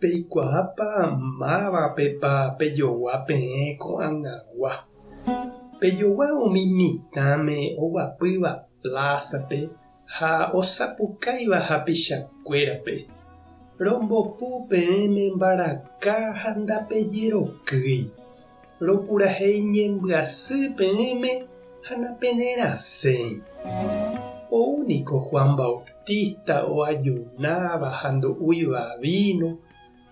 Peikuaápa mávapepa pejogua peẽ ko'ag̃agua. Pejogua umi mitãme oguapýva plázape ha osapukáiva hapichakuérape. Rombopu peẽme mbaraka ha ndapejerokýi. Rokurahei ñembyasy peẽme ha napenerasẽi. Ou niko Juan Bautista oajunáva ha ndo'úiva víno,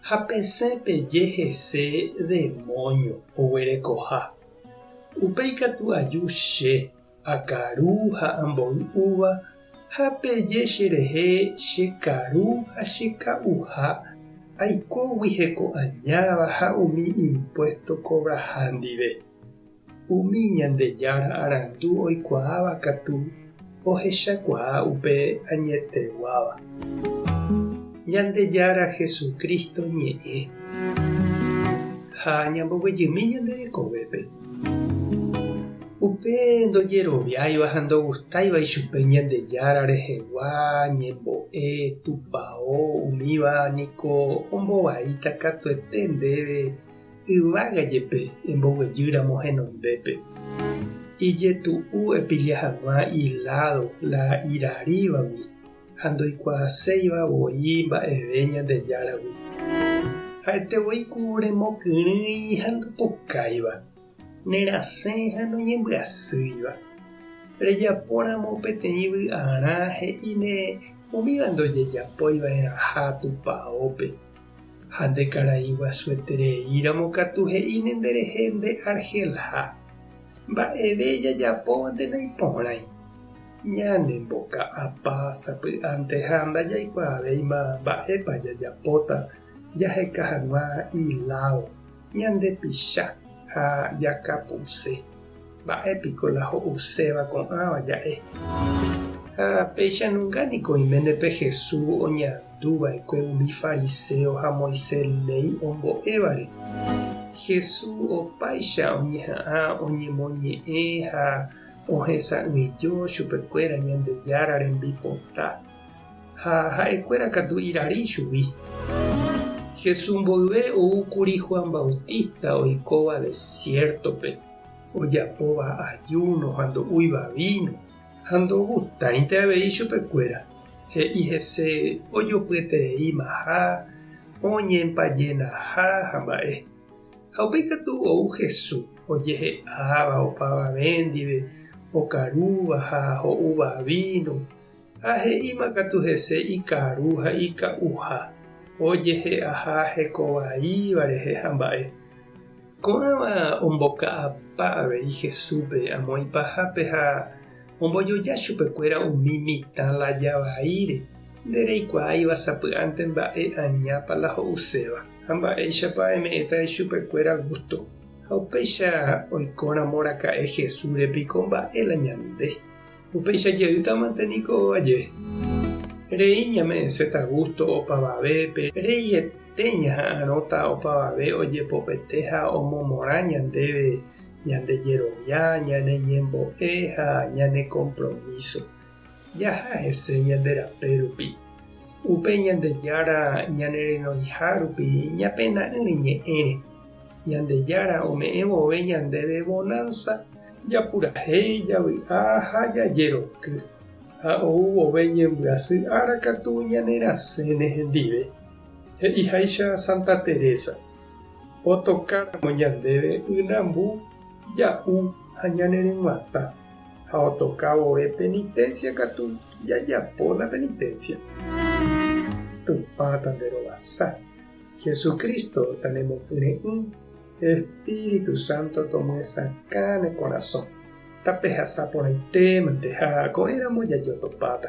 ha pesẽ peje hese demóño oguerekoha. Upéi katu aju che. Akaru ha amboy uva, ha peje cherehe che karu ha che ka'uha, aikógui heko'añáva ha umi impuesto kobraha ndive. Umi Ñandejára arandu oikuaáva katu ohechakuaa upe añeteguáva. Ñandejára Jesucristo ñe'ẽ. Ha ñamboguejymi ñande rekovépe. Upe ndojeroviáiva ha ndogustáiva ichupe Ñandejára rehegua ñembo'e tupao umíva niko ombovaíta katuete ndéve yvága jepe emboguejýramo henondépe. Ijetu'u epilla hag̃ua iládo la iraríva gui. ha ndoikuaaséiva voi mba'eve Ñandejáragui. Ha'ete voi ku remokyrỹi ha ndopukáiva, nerasẽ ha noñembyasýiva. Rejapóramo peteĩ vy'arã he'íne umíva ndojejapóiva'erãha tupaópe, ha nde karai guasuetereíramo katu he'íne nderehe nde arhelha, mba'eve jajapóvante naiporãi. Ñanemboka'apa sapy'anteha ndajaikuaavéima mba'épa jajapóta jaheka hag̃ua ilao, ñandepicha ha jakapuse. Mba'e piko la ho'uséva ko'ãva ja'e? Ha péicha nunga niko oiméne pe Jesús oñandu va'ekue umi fariséo ha Moisés léi ombo'évare. Jesús opáicha oñeha'ã oñemoñe'ẽ ha Ohesa'ỹijo chupekuéra Ñandejára rembipota, ha ha'ekuéra katu irarýi ichugui. Jesús mboyve ou kuri Juan Bautista oikóva desiértope, ojapóva ajúno ha ndo'úiva víno, ha ndogustáinte avei chupekuéra. He'i hese ojopyetereímaha, oñempajenaha ha mba'e. Ha upéi katu ou Jesús, ojehe'áva, opavave ndive, okarúva ha ho'úva víno, ha he'íma katu hese ikaru ha ika'uha, ojehe'aha heko vaíva rehe ha mba'e. Ko'ãva omboka'apa avei Jesúspe amo ipahápe ha Ombojoja chupekuéra umi mitã la javaíre, nde reikuaáiva sapy'ánte mba'e añápa la ho'uséva, ha mba'éichapa eme'ẽta ichupekuéra gústo. Ha upéicha oikóramo raka'e Jesúsre piko mba'e la ñande? Upéicha jeýtamante niko vaje. Rei ñame'ẽséta gústo opavavépe, reihete ñaha'arõta opavave ojepopete ha omomorã ñandéve ñande jerovia, ñane ñembo'e ha ñane kompromíso. Jaha hese ñande rape rupi. Upe Ñandejára ñane renoiha rupi ñapena'ỹ reñe'ẽre. Ñandejára ome'ẽ vove ñandéve vonánsa, japurahéi, javy'a ha jajeroky. Ha ou vove ñembyasy ára katu ñanerasẽne hendive, he'iháicha Santa Teresa. Otokáramo ñandéve ynambu, ja'u ha ñane ryg̃uatã, ha otoka vove penitencia katu jajapo la penitencia. Tupã tanderovasa, Jesucristo tanemopyre'ỹ, Espíritu Santo tomyesakã ne korasõ. Tapehasa porãite mante ha ko'ẽramo jajotopáta.